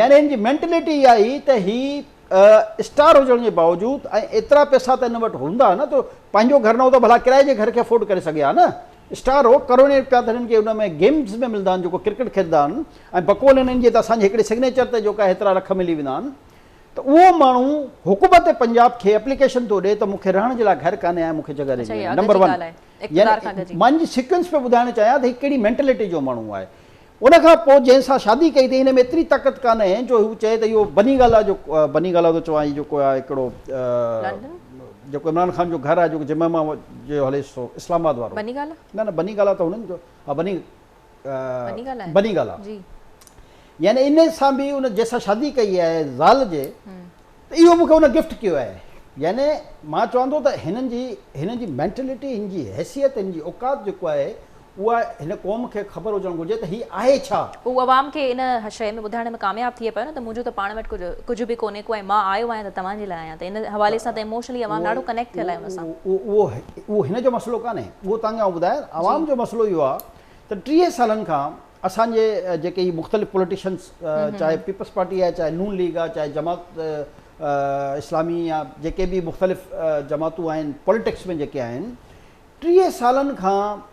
يعني هن جي مينٽليٽي اها هئي ته هي اسٽار هجڻ جي باوجود ۽ ايترا پئسا ته هن وٽ هوندا ها نه ته پنهنجو گهر نه هو ته ڀلا ڪرائي جي گهر کي افورڊ ڪري سگهي ها نه اسٽار هو ڪروڙين روپيا ته هنن کي ان ۾ گيمز ۾ ملندا آهن جيڪو ڪرڪيٽ کيڏندا آهن ۽ بقول هنن جي ته اسان جي هڪڙي سگنيچر تي جيڪا هيترا لک ملي ويندا آهن ته اهو ماڻهو حڪومت پنجاب کي اپليڪيشن ٿو ڏي ته مون کي رهڻ جي لاء گهر ڪانهي ۽ مون کي جڳهه ڏجي وڃي نمبر ون يعني مان ان جي سيڪوينس پيو ٻڌائڻ چاهيان ته هي ڪهڙي مينٽليٽي جو ماڻهو آهي ان کان پوء جنهن سان شادي ڪئي اٿئي هن ۾ ايتري طاقت ڪانه جو هو چئي ته اهو بني گالا جو بني گالا ٿو چوان هي جيڪو آهي هڪڙو جيڪو عمران خان جو گهر آهي جيڪو جمعه جو هليس ٿو اسلام آباد وارو بني گالا نه نه بني گالا ته هنن جو ها بني بني گالا آهي بني گالا جي يعني ان سان به ان جنهن سان شادي ڪئي آهي زال جي ته اهو مونکي هن گفٽ ڪيو آهي يعني مان چوان ٿو ته هنن جي هنن جي مينٽلٽي هن جي حيثيت هن جي اوقات جيڪو آهي اها هن قوم کي خبر هجڻ گهرجي ته هي آهي ڇا. هو عوام کي ان شئي ۾ ٻڌائڻ ۾ ڪامياب ٿئي پيو نه ته منهنجو ته پاڻ وٽ ڪجهه ڪجهه به ڪونهي ڪو ۽ مان آيو آهيان ته توهان جي لاء آهيان ته ان حوالي سان ته ايموشنلي عوام ڏاڍو ڪنيڪٽ ٿيل آهي ان سان. اهو اهو هن جو مسئلو ڪانهي اهو توهان کي آئون ٻڌايان عوام جو مسئلو اهو آهي ته ٽيهه سالن کان اسان جي جيڪي هي مختلف پوليٽيشنز چاهي پيپلز پارٽي آهي چاهي نون ليگ آهي چاهي جماعت اسلامي يا جيڪي به مختلف جماعتون آهن پوليٽڪس ۾ جيڪي آهن ٽيهه سالن کان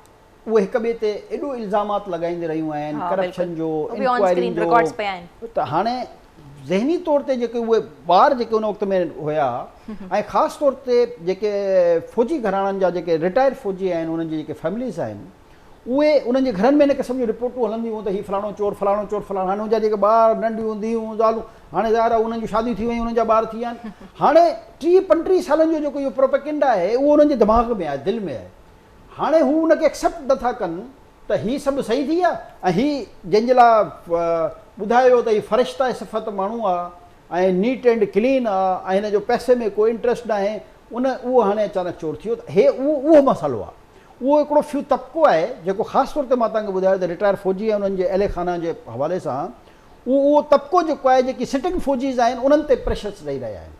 اهي هڪ ٻئي تي ايڏو الزامات لڳائيندي رهيون آهن ڪرپشن جو انڪوائرين جو ته هاڻي ذهني طور تي جيڪي اهي ٻار جيڪي ان وقت ۾ هيا ۽ خاص طور تي جيڪي فوجي گهراڻن جا جيڪي رٽائر فوجي آهن انهن جي جيڪي فيمليز آهن اهي انهن جي گهرن ۾ هن قسم جون رپورٽون هلنديون هون ته هي فلاڻو چور، فلاڻو چور، فلاڻو. هاڻي هن جا جيڪي ٻار، ننڍيون ڌيئون، زالون، هاڻي ظاهر آهي انهن جون شاديون ٿي ويون، انهن جا ٻار ٿي ويا آهن. هاڻي ٽيهه پنٽيهه سالن جو جيڪو اهو پروپيگنڊا آهي، اهو انهن جي دماغ ۾ آهي، دل ۾ آهي. هاڻي هو ان کي ايڪسيپٽ نه ٿا ڪن ته هي سڀ صحيح ٿي ويا ۽ هي جنهن جي لاء ٻڌايو ويو ته هي فرشته صفت ماڻهو آ ۽ نيٽ اينڊ ڪلين آ ۽ هن جو پئسي ۾ ڪو انٽريسٽ ناهي، ان اهو هاڻي اچانڪ چور ٿي ويو ته هي اهو اهو مسئلو آ. اهو هڪڙو فيو طبقو آهي جيڪو خاص طور تي مان توهان کي ٻڌايو ته رٽائر فوجي ۽ انهن جي اهل خانه جي حوالي سان اهو اهو طبقو جيڪو آهي جيڪي سٽنگ فوجيز آهن انهن تي پريشرس ڏئي رهيا آهن.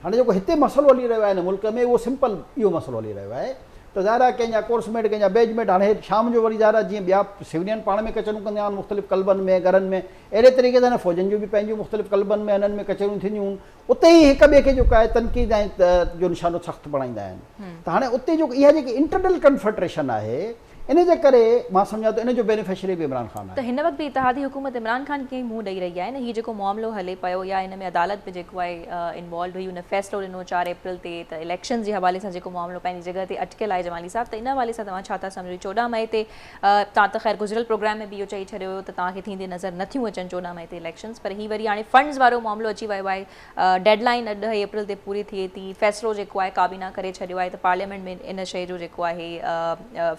هاڻي جيڪو هتي مسئلو هلي رهيو آهي هن ملڪ ۾ اهو سمپل اهو مسئلو هلي رهيو آهي ته ظاهر آهي ڪنهن جا ڪورس ميٽ ڪنهن جا بيج ميٽ هاڻي شام جو وري ظاهر آهي جيئن ٻيا سولين پاڻ ۾ ڪچهريون ڪندا آهن مختلف ڪلبن ۾ گهرن ۾ اهڙي طريقي سان هن فوجين جون به پنهنجون مختلف ڪلبن ۾ هنن ۾ ڪچهريون ٿينديون هون اتي ئي هڪ ٻئي کي جيڪو آهي تنقيد ۽ جو نشانو سخت بڻائيندا آهن ته هاڻي اتي جو اها جيڪي انٽرنل ڪنفرٽريشن آهي ان جي ڪري مان سمجهان ٿو ان جو بينيفشري به عمران خان آهي. ته هن وقت به اتحادي حڪومت عمران خان کي ئي منهن ڏئي رهي آهي نه هي جيڪو معاملو هلي پيو يا ان ۾ عدالت به جيڪو آهي انوالوڊ هئي ان فيصلو ڏنو چار اپريل تي ته اليڪشنز جي حوالي سان جيڪو معاملو پنهنجي جڳهه تي اٽڪيل آهي جمالي صاحب ته ان حوالي سان توهان ڇا ٿا سمجهو چوڏهن مئي تي توهان ته خير گذريل پروگرام ۾ به اهو چئي ڇڏيو هيو ته توهان کي ٿيندي نظر نه ٿيون اچن چوڏهن مئي تي اليڪشنز پر هي وري هاڻي فنڊز وارو معاملو اچي ويو آهي ڊيڊ لائين اڄ ڏهه اپريل تي پوري ٿئي ٿي فيصلو جيڪو آهي ڪابينا ڪري ڇڏيو آهي ته پارليامينٽ ۾ ان شئي جو جيڪو آهي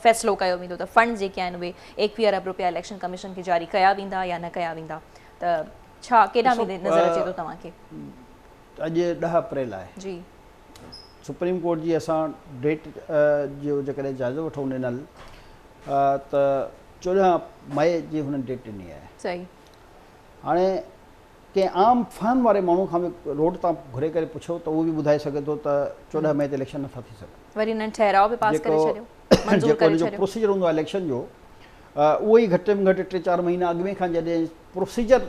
فيصلو ڪيو ويندو ته فنڊز جيڪي آهن اهي ايڪويهه ارب روپيا اليڪشن ڪميشن کي جاري ڪيا ويندا يا نه ڪيا ويندا ته ڇا ڪيڏانهن ويندي نظر اچي ٿو توهان کي اڄ ڏهه اپريل آهي جي سپريم ڪورٽ جي اسان ڊيٽ جو جيڪڏهن جائزو وٺون ڏنل ته چوڏهن مئي جي هنن ڊيٽ ڏني آهي صحيح هاڻي ڪنهن عام فهم واري ماڻهو کان به روڊ تان گهري ڪري پڇو ته اهو به ٻڌائي سگهي ٿو ته چوڏهن مئي تي اليڪشن نٿا ٿي سگهن وري هنن ٺهراء به پاس ڪري ڇڏيو منظور ڪري ڇڏيو جو پروسيجر هوندو آهي اليڪشن جو اهو ئي گهٽ ۾ گهٽ ٽي چار مهينا اڳ ۾ کان جڏهن پروسيجر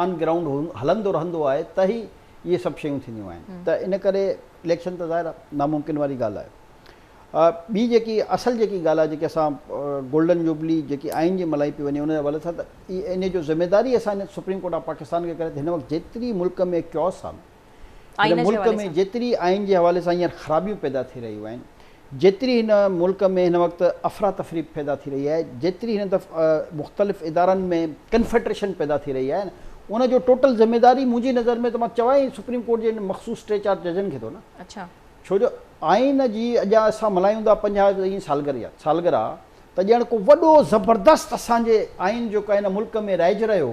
آن گرائونڊ هلندو رهندو آهي ته ئي اهي سڀ شيون ٿينديون آهن ته ان ڪري اليڪشن ته ظاهر آهي ناممڪن واري ڳالهه آهي ٻي جيڪي اصل جيڪي ڳالهه آهي جيڪي اسان گولڊن جوبلي جيڪي آئين جي ملهائي پئي وڃي ان جي حوالي سان ته ان جو ذميواري اسان سپريم ڪورٽ آف پاڪستان کي ڪري ته هن وقت جيتري ملڪ ۾ ڪيوس آهن هن ملڪ ۾ جيتري آئين جي حوالي سان هينئر خرابيون پيدا ٿي رهيون آهن، جيتري هن ملڪ ۾ هن وقت افراتفري پيدا ٿي رهي آهي، جيتري هن دف مختلف ادارن ۾ ڪنفيڊريشن پيدا ٿي رهي آهي، ان جو ٽوٽل ذميواري منهنجي نظر ۾ ته مان چوان ئي سپريم ڪورٽ جي انهن مخصوص ٽي چار ججن کي ٿو نه. ڇو جو آئين جي اڄان اسان ملهايون ٿا پنجاهه سالگرهه سالگرهه ته ڄڻ ڪو وڏو زبردست اسان جي آئين جيڪو آهي ان ملڪ ۾ رائج رهيو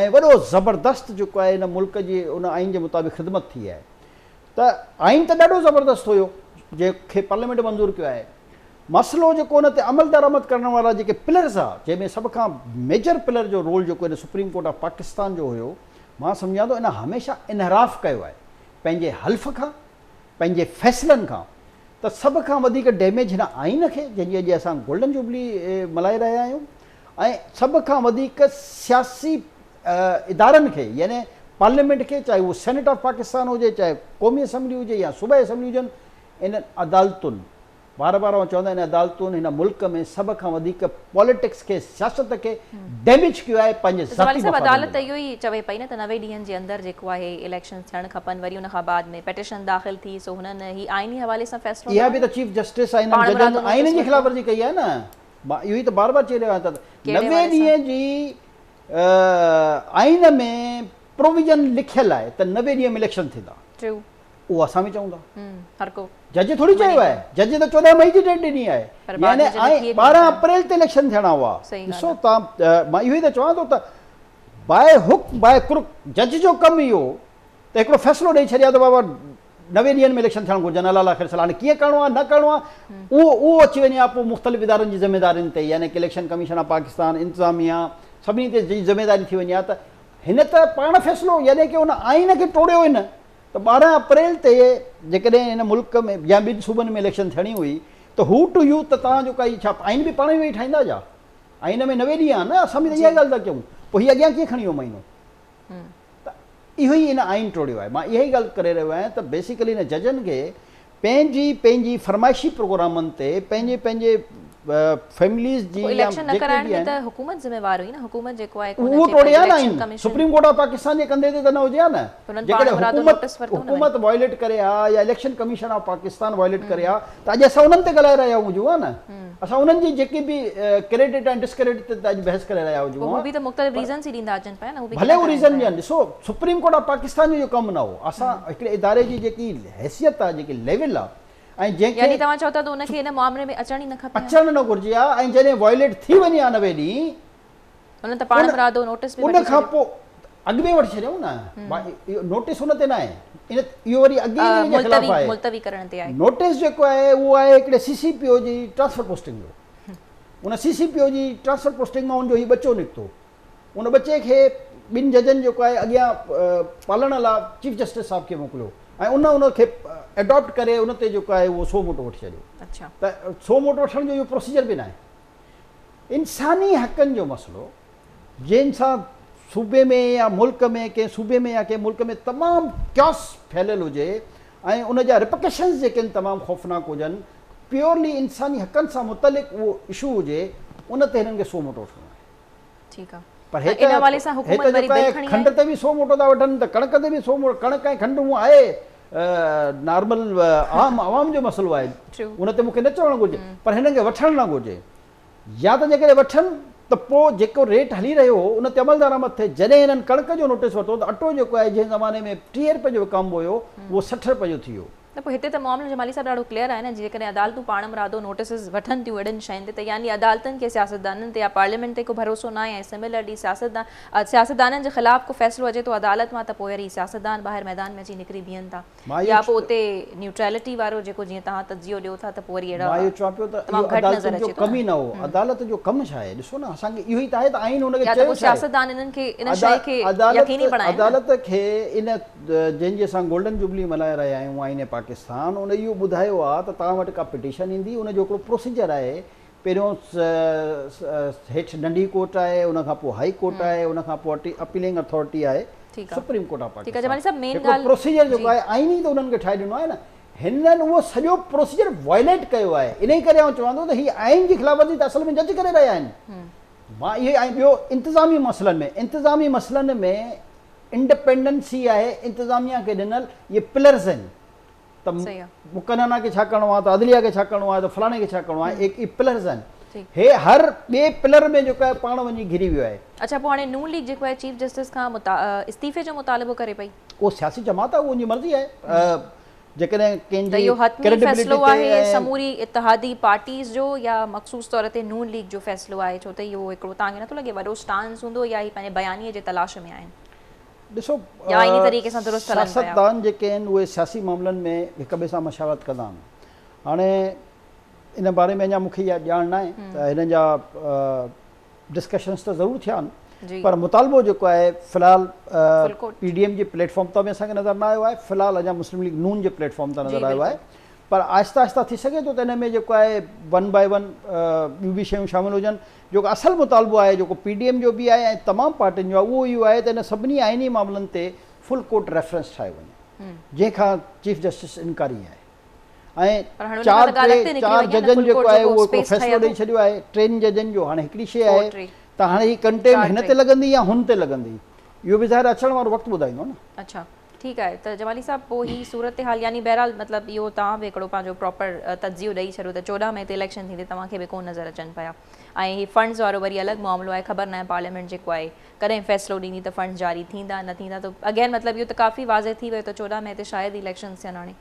۽ وڏو زبردست جيڪو آهي ان ملڪ جي ان آئين جي مطابق خدمت ٿي آهي ته آئين ته ڏاڍو زبردست هيو جنهن کي پارليامينٽ منظور ڪيو آهي مسئلو جيڪو ان تي عمل درآمد ڪرڻ وارا جيڪي پلرز ها جنهن ۾ سڀ کان ميجر پلر جو رول جيڪو ان سپريم ڪورٽ آف پاڪستان جو هيو مان سمجهان ٿو ان هميشه انحراف ڪيو آهي پنهنجي حلف کان پنهنجي فيصلن کان ته سڀ کان وڌيڪ ڊيميج هن آئين کي جنهن جي اڄ اسان گولڊن جوبلي ملهائي رهيا آهيون ۽ سڀ کان وڌيڪ سياسي ادارن کي يعني پارليامينٽ کي چاهي اهو سينيٽ آف پاڪستان هجي چاهي قومي اسيمبلي هجي يا صوبائي اسيمبلي هجن انهن عدالتن بار بار آئون چوندا آهن عدالتون هن ملڪ ۾ سڀ کان وڌيڪ پاليٽڪس کي سياست کي ڊيميج ڪيو آهي پنهنجي ذاتي مفادن جي لاء. زوالي صاحب عدالت ته اهو ئي چوي پئي نه ته نوي ڏينهن جي اندر جيڪو آهي اليڪشنز ٿيڻ کپن وري ان کان بعد ۾ پيٽيشن داخل ٿي سو هنن هي آئيني حوالي سان فيصلو نه آهي. اها به ته چيف جسٽس آهن هنن ججن آئين جي خلاف ورزي ڪئي آهي نه مان اهو ئي ته بار بار چئي رهيو آهيان ته نوي ڏينهن جي آئين ۾ پروويزن لکيل آهي ته نوي ڏينهن ۾ اليڪشن ٿيندا. اهو اسان به چئون ٿا. جج ٿوري چيو آهي. جج ته چوڏهن مئي جي ڊيٽ ڏني آهي. يعني ٻارهن اپريل تي اليڪشن ٿيڻا هئا. ڏسو تان مان اهو ئي ته چوان ٿو ته باء هوڪ باء ڪرڪ جج جو ڪم اهو ته هڪڙو فيصلو ڏئي ڇڏي ها ته بابا نوي ڏينهن ۾ اليڪشن ٿيڻ گهرجن حلال آخر سلام هاڻي ڪيئن ڪرڻو آهي نه ڪرڻو آهي اهو اهو اچي وڃي ها پوء مختلف ادارن جي ذميدارين تي يعني ڪي اليڪشن ڪميشن آف پاڪستان انتظاميا سڀني تي ذميداري ٿي وڃي ها ته هن ته پاڻ فيصلو يعني ڪي ان آئين کي ٽوڙيو هن ته ٻارهن اپريل تي جيڪڏهن هن ملڪ ۾ يا ٻن صوبن ۾ اليڪشن ٿيڻي هئي ته هو ٽو يو ته توهان جو ڪائي ڇا آئين به پاڻ ئي ويهي ٺاهيندا جا آئين ۾ نوي ڏينهن آهن نه اسان به ته اها ئي ڳالهه ٿا ڪيون پوء هي اڳيان ڪيئن کڻي ويو مهينو ته اهو ئي هن آئين ٽوڙيو آهي مان اها ئي ڳالهه ڪري رهيو آهيان ته بيسيڪلي هن ججن کي پنهنجي پنهنجي فرمائشي پروگرامن تي پنهنجي پنهنجي فيمليز جي يا اليڪشن نه ڪرائڻ جي ته حڪومت ذميوار هئي نه حڪومت جيڪو آهي ڪو نه ٺيڪ آهي election commission supreme court of Pakistan جي ڪنڌي تي ته نه هجي ها نه جيڪڏهن حڪومت حڪومت وائليٽ ڪري ها يا election commission of Pakistan violate ڪري ها ته اڄ اسان انهن تي ڳالهائي رهيا هجون ها نه اسان انهن جي جيڪي به ڪريڊٽ ۽ ڊسڪريڊٽ تي ته اڄ بحث ڪري رهيا هجون ها پر ڀلي هو ريزن ڏين ڏسو سپريم ڪورٽ آف پاڪستان جو اهو ڪم نه هو اسان هڪڙي اداري جي جيڪي حيثيت آ جيڪي ليول آ ۽ جنهن کي يعني توهان چئو ٿا ته ان کي ان معاملي ۾ اچڻ ئي نه کپي ها. اچڻ نه گهرجي ها ۽ جڏهن وائوليٽ ٿي وڃي ها نوي ڏينهن هن ته پاڻ مرادو نوٽس به وٺي ڇڏيو ان کان پو اڳ ۾ وٺي ڇڏيائون نه اهو نوٽس ان تي نه آهي ان اهو وري اڳي ئي ان جي خلاف آهي ملتوي ڪرڻ تي آهي نوٽس جيڪو آهي اهو آهي هڪڙي سي سي پي او جي ٽرانسفر پوسٽنگ جو ان سي سي پي او جي ٽرانسفر پوسٽنگ مان ان جو هي ٻچو نڪتو ان ٻچي کي ٻن ججن جيڪو آهي اڳيان پالڻ لا چيف جسٽس صاحب کي موڪليو ۽ ان ان کي اڊاپٽ ڪري ان تي جيڪو آهي اهو سو موٽو وٺي ڇڏيو ته سو موٽو وٺڻ جو اهو پروسيجر به ناهي انساني حقن جو مسئلو جنهن سان صوبي ۾ يا ملڪ ۾ ڪنهن صوبي ۾ يا ڪنهن ملڪ ۾ تمام ڪيوس ڦهليل هجي ۽ ان جا رپڪشنز جيڪي آهن تمام خوفناڪ هجن پيورلي انساني حقن سان متعلق اهو اشو هجي ان تي هنن کي سو موٽو وٺڻو آهي ٺيڪ آ پر هيت ان حوالي سان حڪومت وري بل کڻي آئي کنڊ تي به سو موٽو ٿا وٺن ته ڪڻڪ تي به سو موٽو ڪڻڪ ۽ کنڊ هون آهي نارمل عام عوام جو مسئلو آهي ان تي مون کي نه چوڻ گهرجي پر هنن کي وٺڻ نه گهرجي يا ته جيڪڏهن وٺن ته پو جيڪو ريٽ هلي رهيو هو ان تي عمل درآمد ٿئي جڏهن هنن ڪڻڪ جو نوٽيس ورتو ته اٽو جيڪو آهي جنهن زماني ۾ ٽيهه رپئي جو وڪامبو هيو اهو سٺ رپئي جو ٿي ويو نه پوء هتي ته معاملو جمالي صاحب ڏاڍو ڪليئر آهي نه جيڪڏهن عدالتون پاڻمرادو نوٽيسز وٺن ٿيون اهڙين شين تي ته يعني عدالتن کي سياستدانن تي يا پارليامينٽ تي ڪو ڀروسو ناهي ۽ سملرلي سياستدان سياستدانن جي خلاف ڪو فيصلو اچي ٿو عدالت مان ته پوء وري سياستدان ٻاهر ميدان ۾ اچي نڪري بيهن ٿا يا پوء اتي نيوٽريلٽي وارو جيڪو جيئن توهان تجزيو ڏيو ٿا ته پوء وري اهڙا تمام گهٽ نظر اچي ٿو نه عدالت جو ڪم ڇا آهي ڏسو نه اسان کي اهو ئي ته آهي ته آئين ان کي چيو ڇا آهي يا ته پوء سياستدان انهن کي ان شيء کي يقيني بڻائين نه. جنهن جي اسان گولڊن جوبلي ملهائي رهيا آهيون آئين پاڪستان ان اهو ٻڌايو آهي ته توهان وٽ ڪا پٽيشن ايندي ان جو هڪڙو پروسيجر آهي پهريون هيٺ ننڍي ڪورٽ آهي ان کان پوء هائي ڪورٽ آهي ان کان پوء اپيلنگ اٿارٽي آهي سپريم ڪورٽ آف پاڪستان هڪڙو پروسيجر جيڪو آهي آئين ئي ته انهن کي ٺاهي ڏنو آهي نه هنن اهو سڄو پروسيجر وائليٽ ڪيو آهي انهي ڪري آئون چوان ٿو ته هي آئين جي خلاف ورزي ته اصل ۾ جج ڪري رهيا آهن مان اهو ۽ ٻيو انتظامي مسئلن ۾ انتظامي مسئلن ۾ انڊپينڊنس ئي آهي انتظاميه کي ڏنل اهي پلرز آهن ته مقننه کي ڇا ڪرڻو آهي ته عدليه کي ڇا ڪرڻو آهي ته فلاڻي کي ڇا ڪرڻو آهي اهي پلرز آهن هي هر ٻئي پلر ۾ جيڪو آهي پاڻ وڃي گهري ويو آهي. اڇا پوء هاڻي نون ليگ جيڪو آهي چيف جسٽس کان استعيفي جو مطالبو ڪري پئي؟ اهو سياسي جماعت آهي اهو ان جي مرضي آهي جيڪڏهن ڪنهن جي ڪريڊبلٽي تي ۽ سموري اتحادي پارٽيز جو يا مخصوص طور تي نون ليگ جو فيصلو آهي ڇو ته اهو هڪڙو تان کي نٿو لڳي وڏو اسٽانس هوندو يا هي پنهنجي بيانيي جي تلاش ۾ آهن ڏسو سياستدان جيڪي آهن اهي سياسي معاملن ۾ هڪ ٻئي سان مشاورت ڪندا آهن هاڻي ان باري ۾ اڃا مون کي اها ڄاڻ ناهي ته هنن جا ڊسڪشنز ته ضرور ٿيا آهن پر مطالبو جيڪو آهي في الحال پي ڊي ايم جي پليٽ فارم تان به اسان کي نظر نه آيو آهي في الحال اڃا مسلم ليگ نون جي پليٽ فارم تان نظر آيو آهي پر آهستي آهستي ٿي سگهي ٿو ته ان ۾ جيڪو آهي ون باء ون ٻيون به شيون شامل هجن جيڪو اصل مطالبو آهي جيڪو پي ڊي ايم جو به آهي ۽ تمام پارٽين جو آهي اهو اهو آهي ته ان سڀني آئيني معاملن تي فل ڪورٽ ريفرنس ٺاهيو وڃي جنهن کان چيف جسٽس انڪاري آهي ۽ چار ٽي چار ججن جيڪو آهي اهو هڪڙو فيصلو ڏئي ڇڏيو آهي ٽن ججن جو هاڻي هڪڙي شيء آهي ته هاڻي هي ڪنٽيم هن تي لڳندي يا هن تي لڳندي اهو به ظاهر اچڻ وارو وقت ٻڌائيندو نه. اڇا ٺيڪ آهي ته جمالي صاحب پوء هي صورتحال يعني بهرحال مطلب اهو توهان به هڪڙو پنهنجو پراپر تجزيو ڏئي ڇڏيو ته چوڏهن مئي تي اليڪشن ٿيندي توهان کي به ڪونه نظر اچن پيا ۽ هي فنڊز وارو وري الڳ معاملو آهي خبر ناهي پارليامينٽ جيڪو آهي ڪڏهن فيصلو ڏيندي ته فنڊز جاري ٿيندا نه ٿيندا ته اگين مطلب اهو ته ڪافي واضح ٿي ويو ته چوڏهن مئي تي شايد ئي اليڪشنز ٿين هاڻي.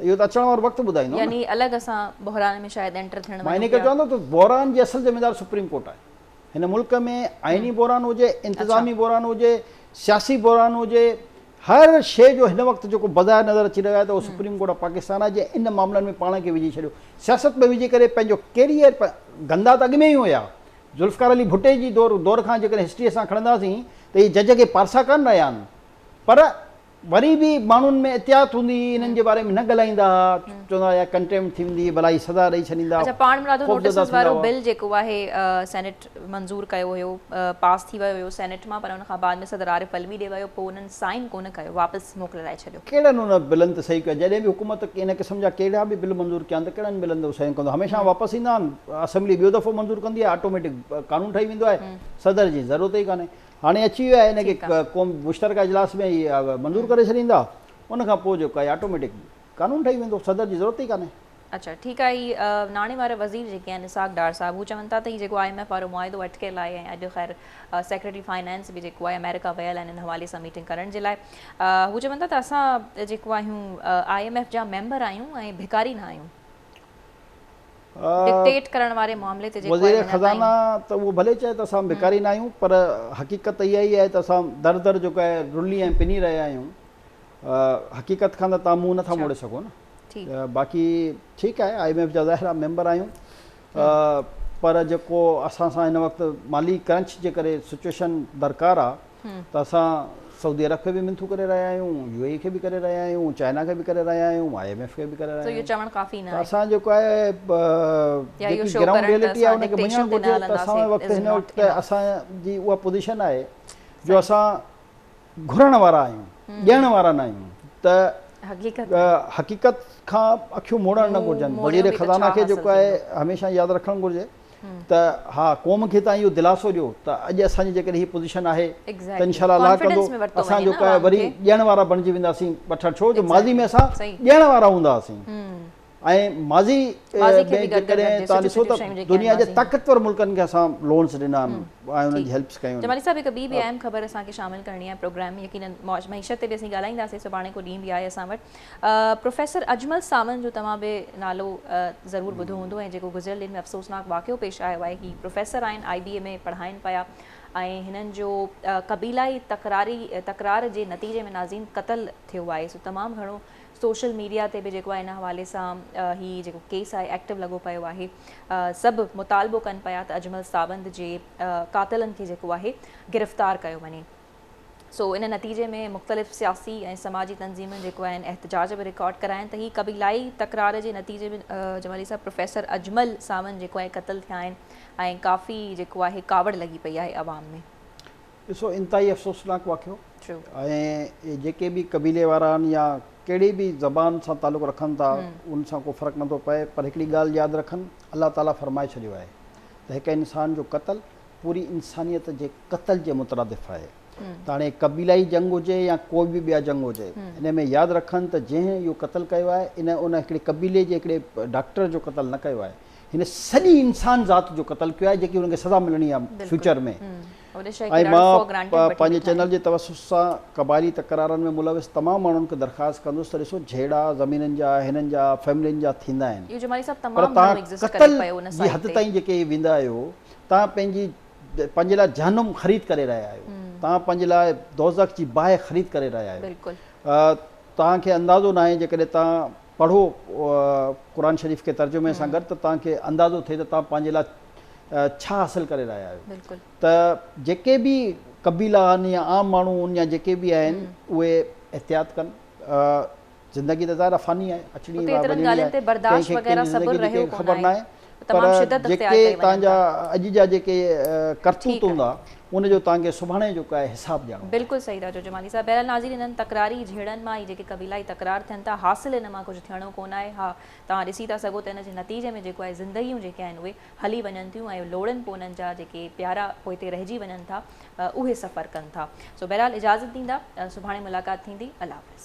اهو ته اچڻ وارو وقت ٻڌائيندو نه. يعني الڳ اسان بحران ۾ شايد انٽر ٿيڻ وڃون پيا. مان انهي ڪري چوان ٿو ته بحران جي اصل ذميوار سپريم ڪورٽ آهي. هن ملڪ ۾ آئيني بحران هجي، انتظامي بحران هجي، سياسي بحران هجي، هر شيء جو هن وقت جيڪو بظاهر نظر اچي رهيو آهي ته اهو سپريم ڪورٽ آف پاڪستان آهي جنهن ان معاملن ۾ پاڻ کي وجهي ڇڏيو. سياست ۾ وجهي ڪري پنهنجو ڪيريئر گندا ته اڳ ۾ ئي هيا. ذوالفقار علي ڀٽي جي دور کان جيڪڏهن هسٽري اسان کڻنداسين ته اهي جج اڳي پارسا ڪانه رهيا آهن پر وري به ماڻهن ۾ احتياط هوندي هئي، انهن جي باري ۾ نه ڳالهائيندا ها، چوندا هئا اها ڪنٽيمپٽ ٿي ويندي، ڀلا هي سزا ڏئي ڇڏيندا، اڇا پاڻ مرادو نوٽيسز وارو بل جيڪو آهي سينيٽ منظور ڪيو هيو پاس ٿي ويو هيو سينيٽ مان پر ان کان بعد ۾ صدر عارف علوي ڏي ويو پوء انهن سائين ڪونه ڪيو واپس موڪلرائي ڇڏيو. ڪهڙن ان بلن تي صحيح ڪيو جڏهن به حڪومت ان قسم جا ڪهڙا به بل منظور ڪيا آهن ته ڪهڙن بلن تي صحيحون ڪندو هميشه واپس ايندا آهن اسيمبلي ٻيو دفعو منظور ڪندي آهي آٽوميٽڪ قانون ٺهي ويندو آهي صدر جي ضرورت ئي ڪانهي هاڻي اچي ويو آهي ان کي قوم مشترڪه اجلاس ۾ ئي منظور ڪري ڇڏيندا ان کان پوء جيڪو آهي آٽوميٽڪ قانون ٺهي ويندو صدر جي ضرورت ئي ڪانهي. اڇا ٺيڪ آهي هي ناڻي وارا وزير جيڪي آهن اسحاق ڊار صاحب هو چون ٿا ته هي جيڪو آء ايم ايف وارو معاهدو اٽڪيل آهي ۽ اڄ خير سيڪريٽري فائنانس به جيڪو آهي آمريڪا ويل آهن ان حوالي سان ميٽنگ ڪرڻ جي لاء هو چون ٿا ته اسان جيڪو آهيون آء ايم ايف جا ميمبر آهيون ۽ ڀڪاري نه آهيون. ڊڪٽيٽ ڪرڻ واري معاملي تي جيڪو آهي وزير خزانه ته اهو ڀلي چئي ته اسان ڀڪاري ناهيون پر حقيقت ته اها ئي آهي ته اسان در در جيڪو آهي رلي ۽ پني رهيا آهيون حقيقت کان ته تان منهن نٿا موڙي سگهو نه باقي ٺيڪ آهي آء ايم ايف جا ظاهر آهي ميمبر آهيون پر جيڪو اسان سان هن وقت مالي ڪرنچ جي ڪري سچويشن درڪار آهي ته اسان سعودي عرب کي به منٿون ڪري رهيا آهيون، يو اي اي کي به ڪري رهيا آهيون، چائنا کي به ڪري رهيا آهيون، آء ايم ايف کي به ڪري رهيا آهيون. ته اسان جيڪو آهي جيڪي گرائونڊ ريئلٽي آهي ان کي مڃڻ گهرجي ته اسان وٽ وقت هن وقت اسان جي اها پوزيشن آهي جو اسان گهرڻ وارا آهيون، ڏيڻ وارا نه آهيون ته حقيقت کان اکيون موڙڻ نه گهرجن. وزير خزانه کي جيڪو آهي هميشه ياد رکڻ گهرجي ته ها قوم کي توهان اهو دلاسو ڏيو ته اڄ اسان جي جيڪڏهن هي پوزيشن آهي ته انشاء الله الله ڪندو اسان جو ڪا وري ڏيڻ وارا بڻجي وينداسين وٺڻ ڇو جو ماضي ۾ اسان ڏيڻ وارا هوندا هئاسين ۽ ماضي ۾ جيڪڏهن توهان ڏسو ته دنيا جي طاقتور ملڪن کي اسان لونس ڏنا آهن ۽ انهن جي هيلپس ڪيون آهن جمالي صاحب هڪ ٻي به اهم خبر اسان کي شامل ڪرڻي آهي پروگرام يقينن معيشت تي به اسين ڳالهائينداسين سڀاڻي ڪو ڏينهن به آهي اسان وٽ پروفيسر اجمل ساوند جو توهان به نالو ضرور ٻڌو هوندو ۽ جيڪو گذريل ڏينهن ۾ افسوسناڪ واقعو پيش آيو آهي هي پروفيسر آهن آئي بي اي ۾ پڙهائين پيا ۽ هنن جو قبيلائي تڪراري تڪرار جي نتيجي ۾ نازين قتل ٿيو آهي سو تمام گهڻو سوشل ميڊيا تي به جيڪو آهي ان حوالي سان هي جيڪو ڪيس آهي ايڪٽو لڳو پيو آهي سڀ مطالبو ڪن پيا ته اجمل ساوند جي قاتلن کي جيڪو آهي گرفتار ڪيو وڃي سو ان نتيجي ۾ مختلف سياسي ۽ سماجي تنظيمن جيڪو آهن احتجاج به رڪارڊ ڪراين ته هي قبيلائي تڪرار جي نتيجي ۾ جمالي صاحب پروفيسر اجمل ساوند جيڪو آهي قتل ٿيا آهن ۽ ڪافي جيڪو آهي ڪاوڙ لڳي پئي آهي عوام ۾ ڏسو انتهائي افسوسناڪ واقعو ۽ جيڪي به قبيلي وارا آهن يا ڪهڙي به زبان سان تعلق رکن ٿا ان سان ڪو فرق نٿو پئي پر هڪڙي ڳالهه ياد رکن الله تعالي فرمائي ڇڏيو آهي ته هڪ انسان جو قتل پوري انسانيت جي قتل جي مترادف آهي ته هاڻي قبيلائي جنگ هجي يا ڪو به ٻيا جنگ هجي انهي ۾ ياد رکن ته جنهن اهو قتل ڪيو آهي ان ان هڪڙي قبيلي جي هڪڙي ڊاڪٽر جو قتل نه ڪيو آهي هن سڄي انسان ذات جو قتل ڪيو آهي جيڪي هن کي سزا ملڻي آهي فيوچر ۾ ۽ مان پنهنجي چينل جي توسط سان قبائلي تڪرارن ۾ ملوث تمام ماڻهن کي درخواست ڪندس ته ڏسو جهيڙا زمينن جا هنن جا فيملين جا ٿيندا آهن پر تهان قتل جي حد تائين جيڪي ويندا آهيو توهان پنهنجي پنهنجي لاء جهنم خريد ڪري رهيا آهيو توهان پنهنجي لاء دوزخ جي باهه خريد ڪري رهيا آهيو بلڪل توهان کي اندازو ناهي جيڪڏهن توهان پڙهو قرآن شريف کي ترجمي سان گڏ ته توهان کي اندازو ٿئي ته توهان پنهنجي لاء ڇا حاصل ڪري رهيا آهيو بلڪل ته جيڪي به قبيلا آهن يا عام ماڻهو آهن يا جيڪي به آهن اهي احتياط ڪن زندگي ته ظاهر آهي فاني آهي، اچڻي اتي ايترن وڃڻي ڳالهين آهي، تي برداشت ڪنهن کي وغيره ڪنهنجي صبر زندگي جي رهيو ڪنهن کي ڪونه خبر آهي. ناهي، پر تمام شدت اختيار جيڪي ڪئي وڃن تهنجا ٿا. اڄ جا جيڪي ڪرتوت ٺيڪ آهي. هوندا، ان جو تهانکي سڀاڻي جو ڪاهي حساب ڏيڻو آهي. بلڪل صحيح ٿا چئو جمالي صاحب. بهرحال ناظرين انهن تڪراري جهيڙن مان ئي جيڪي قبيلائي تڪرار ٿين ٿا، حاصل ان مان ڪجهه ٿيڻو ڪونه آهي. ها توهان ڏسي ٿا سگهو ته ان جي نتيجي ۾ جيڪو آهي زندگيون جيڪي آهن اهي هلي وڃن ٿيون ۽ لوڙهن پوء انهن جا جيڪي پيارا پوئتي رهجي وڃن ٿا اهي سفر ڪن ٿا سو بهرحال اجازت ڏيندا سڀاڻي ملاقات ٿيندي الله حافظ.